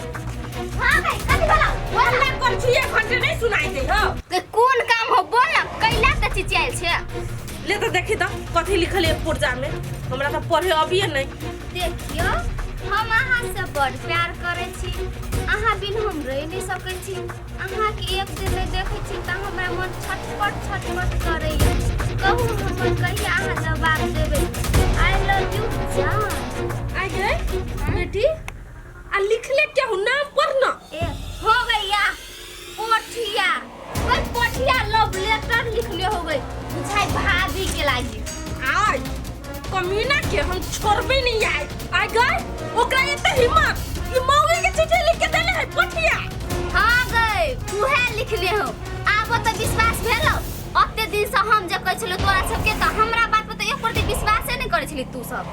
हां भाई कथि बोला बोल ना कर छिए घंटे नहीं सुनाई दे हो के कोन काम हो बोल ना कैला त चिचियाल छे ले तो देखी तो कथी लिखल है पुर्जा में हमरा तो पढ़े अबिए नहीं देखियो हम अहाँ से बड़ प्यार करे छी अहाँ बिन हम रह नहीं सके छी अहाँ के एक दिन नहीं देखे छी त हमरा मन छटपट छटपट करे कहू हमर कहिया अहाँ जवाब देबे आई लव यू जान आई गए बेटी आ लिखले क्या हो नाम पर ना ए, हो गया पोठिया बस पोठिया लव लेटर लिखले हो गई बुझाई भाभी के लागी आज कमीना के हम छोड़बे नहीं आए आ गए ओकरा एते हिम्मत कि मौगी के चिट्ठी लिख के देले है पोठिया हाँ गए उहे लिखले हो आबो तो विश्वास भेलो ओते दिन से हम जे कहै छलो तोरा सबके तो हमरा बात पर तो एक प्रति विश्वासे नहीं करै छली तू सब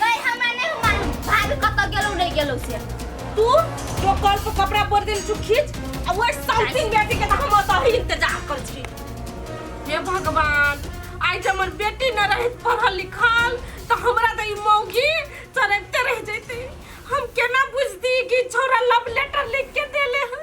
कहीं हमरा नहीं हो मालूम भाभी कत गेलो नहीं गेलो से तू जो कल पर कपड़ा पर दिन तू खींच आ वो साउथिंग बेटी के हम अतही इंतजार कर छी हे भगवान आई जब हमर बेटी न रहित पढ़ल लिखल तो हमरा तो ई मौगी चरते रह जैती हम केना बुझती कि छोरा लव लेटर लिख के देले है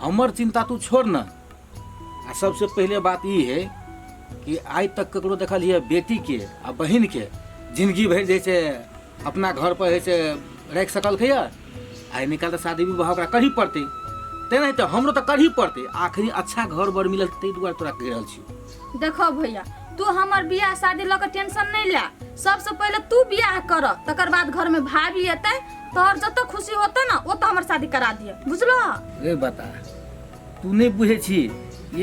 हमर चिंता तू छोड़ न आ सबसे पहले बात ई है कि आइ तक ककरो देखल हिए बेटी के आ बहिन के जिंदगी भरि जे छै अपना घर पर जे छै राखि सकलकै यऽ आइ निकाल तऽ शादी विवाह ओकरा करही पड़तै तेनाहिते हमरो तऽ करही पड़तै आखिर अच्छा घर बर मिलल ताहि दुआरे तोरा कहि रहल छी देखो भैया तू हमर बियाह शादी लऽ के टेंशन नहीं ला सबसे पहले तू बियाह कर तकर बाद घर में भाभी अतै तोहर जत खुशी होता ना ओत हमर शादी करा दिए बुझलो रे बता तू नहीं बुझे छी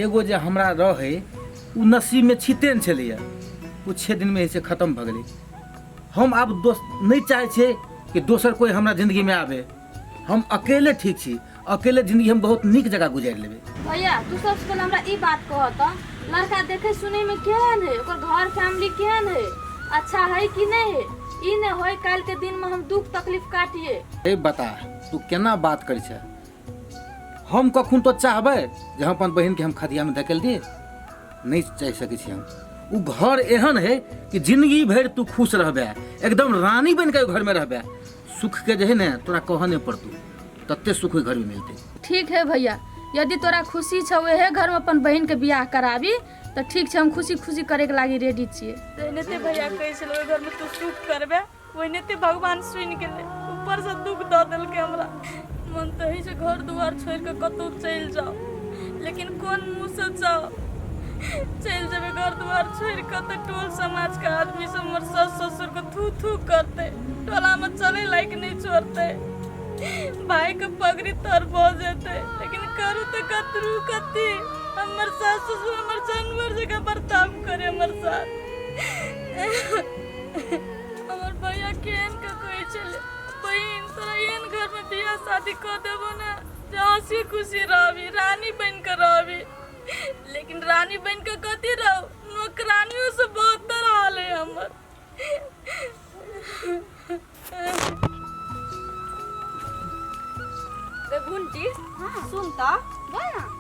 एगो जे हमरा रहे उ नसीब में छिते ने छलैया उ छः दिन में से खत्म भऽ गेलै हम आब दोस नहीं चाहे छियै कि दोसर कोई हमरा जिंदगी में आवे हम अकेले ठीक छी अकेले जिंदगी हम बहुत नीक जगह गुजारि लेबै भैया तू सबसे पहले हमरा ई बात कह त लड़का देखे सुने में केहन है ओकर घर फैमिली केहन है अच्छा है कि नहीं है ई ने होय काल के दिन में हम दुख तकलीफ काटिए ए बता तू केना बात करै छै हम कखन तो चाहबै जे हम अपन बहिनके हम खदियामे धकेल दिए नहि चाहि सकै छी हम ओ घर एहन है कि जिंदगी भरि तू खुश रहबै एकदम रानी बनि कऽ ओहि घरमे रहबै सुख के जे है ने तोरा कह नहीं पड़तू तत्ते सुख ओहि घर में मिलते ठीक है भैया यदि तोरा खुशी छौ एहे घर में अपन बहन के बियाह कराबी तो ठीक छै हम खुशी खुशी करे के लागी रेडी छिए जहने ते भैया कहै छल ओहि घरमे तू सुख करबे ओहने ते भगवान सुनि गेलै ऊपरसँ दुख दऽ देलकै हमरा मन तऽ होइ छै घर दुआर छोड़ि कऽ कतहु चलि जाउ लेकिन कोन मुँहसँ जाउ चलि जेबै घर दुआर छोड़ि कऽ तऽ टोल समाजके आदमी सब हमर सास ससुरके थू थू करतै टोलामे चलै लायक नहि छोड़तै भायके पगड़ी तर भऽ जेतै लेकिन करू तऽ कतरू कथी हमर सास ससुर हमर जानवर जकाँ बर्ताव करे हमर साथ हमर भैया केहन के कहै छलै बहिन तोरा एहन घरमे बियाह शादी कऽ देबो ने जे हँसी खुशी रहबी रानी बनि कऽ रहबी लेकिन रानी बनि कऽ कथी रहू नौकरानियों से बहत्तर हाल है हमर रे गुंटी सुन तऽ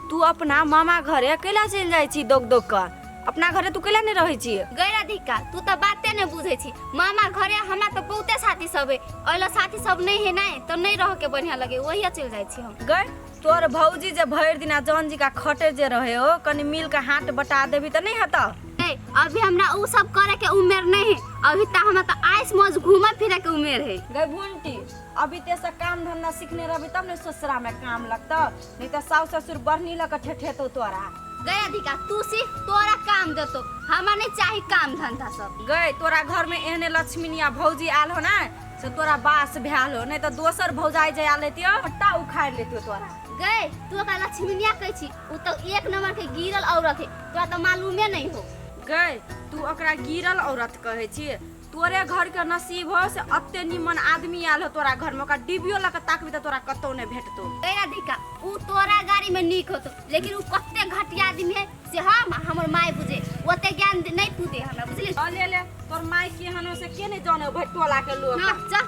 तू अपना मामा घरे अकेला चलि जाइ छी दोग दोग कऽ अपना घरे तू कैला नहि रहै छियै गैर अधिका तू तऽ बाते नहि बुझै छी मामा घरे हमरा तऽ बहुते साथी सब है ओइला साथी सब नहीं है नहीं तो नहीं रह के बढ़िया लगे वही चल जाए छी हम गए तोर भौजी जे भरि दिना जौन जी का खटे जे रहे हो कनी मिल के हाथ बटा देबी तऽ नहि हता नहीं अभी हमरा उ सब करे के उम्र नहीं है अभी तक हमरा तो आइस मौज घूमे फिरे के उम्र है गए भुंटी अभी ते से काम धंधा सीखने रहबी तब ने ससुरा में काम लगता नहीं तो सास ससुर बरनी लग ठेठेतो तोरा गए अधिका तू सी तोरा काम देतो हमार नहीं चाही काम धंधा सब गए तोरा घर में एहने लक्ष्मीनिया भौजी आल हो ना से तोरा बास भैल हो नहीं तो दोसर भौजाई जे आल रहती हट्टा उखाड़ लेती तोरा गए तू ओकरा लक्ष्मीनिया कह छी उ तो एक नंबर के गिरल औरत है तोरा तो मालूमे नहीं हो गए तू ओकरा गिरल औरत कहे छी तोरे घर के नसीब हो से अत्ते निमन आदमी आयल हो तोरा घर में ओकरा डिबियो लग ताकबी त तोरा कतौ नहीं भेटतो ए राधिका ऊ तोरा गाड़ी में नीक होतो लेकिन ऊ कते घटिया आदमी है से हम आ हमर माय बुझे ओते ज्ञान दे- नहीं तू दे हमरा बुझलिस आ ले ले तोर माई केहन हो से के नहीं जाने भटोला के लोग ना चल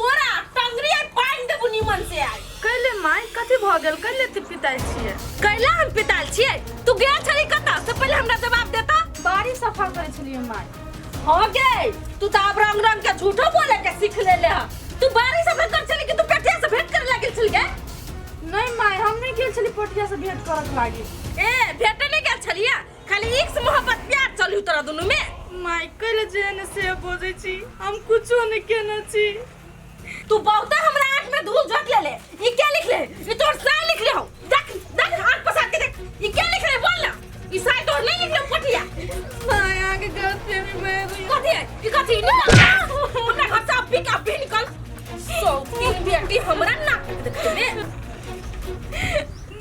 तोरा टंगरी आइ पानि देबू निमन से आइ कैले माय कथी भऽ गेल कैले तू पिताइ छियै कैला हम पिताल छियै तू गया छली कतऽ से पहिले हमरा जवाब देता बाड़ी सफा करै छलियै माय हो गए तू तो अब रंग रंग के झूठो बोले के सीख ले ले हा। तू बारी से भेंट कर चली कि तू पेटिया से भेंट करे लगे चल गए नहीं माय हम नहीं गेल छली पोटिया से भेंट करत लागी ए भेंटे नहीं गया छलिया खाली एक से मोहब्बत प्यार चलू तोरा दुनू में माय कैले जेहन से बोजै छी हम कुछो नहि केने छी तू बहुते हमरा आंख में धूल झोंक लेले ई क्या लिख ले ई तोर साय लिख ले हो देख देख आंख पसार के देख ई क्या लिख ले बोल ना ई साय तोर नहीं लिख ले पटिया माय आगे गलती में मैं रही कथी है ई कथी निकल हमरा घर से अभी का अभी निकल सो की बेटी हमरा ना देख में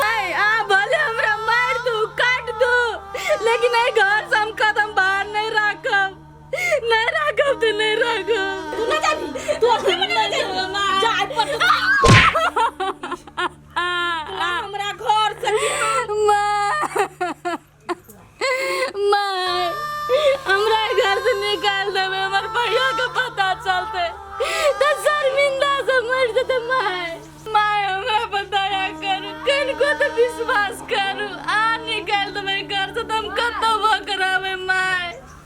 माय आ भले हमरा मार दू काट दू लेकिन ए घर से हम कदम बाहर नहीं राखब नहीं राखब तो नहीं राखब तू ना जाबी तू अपने मन में जाबी जा आज पर तू हमरा घर से माँ माय हमरा घर से निकाल देबे हमर भैया के पता चलते तो शर्मिंदा से मर जेते माय माय हमरा पर दया करू किनको तो विश्वास करू आ निकाल देबे घर से तो हम कतौ भकराबे माय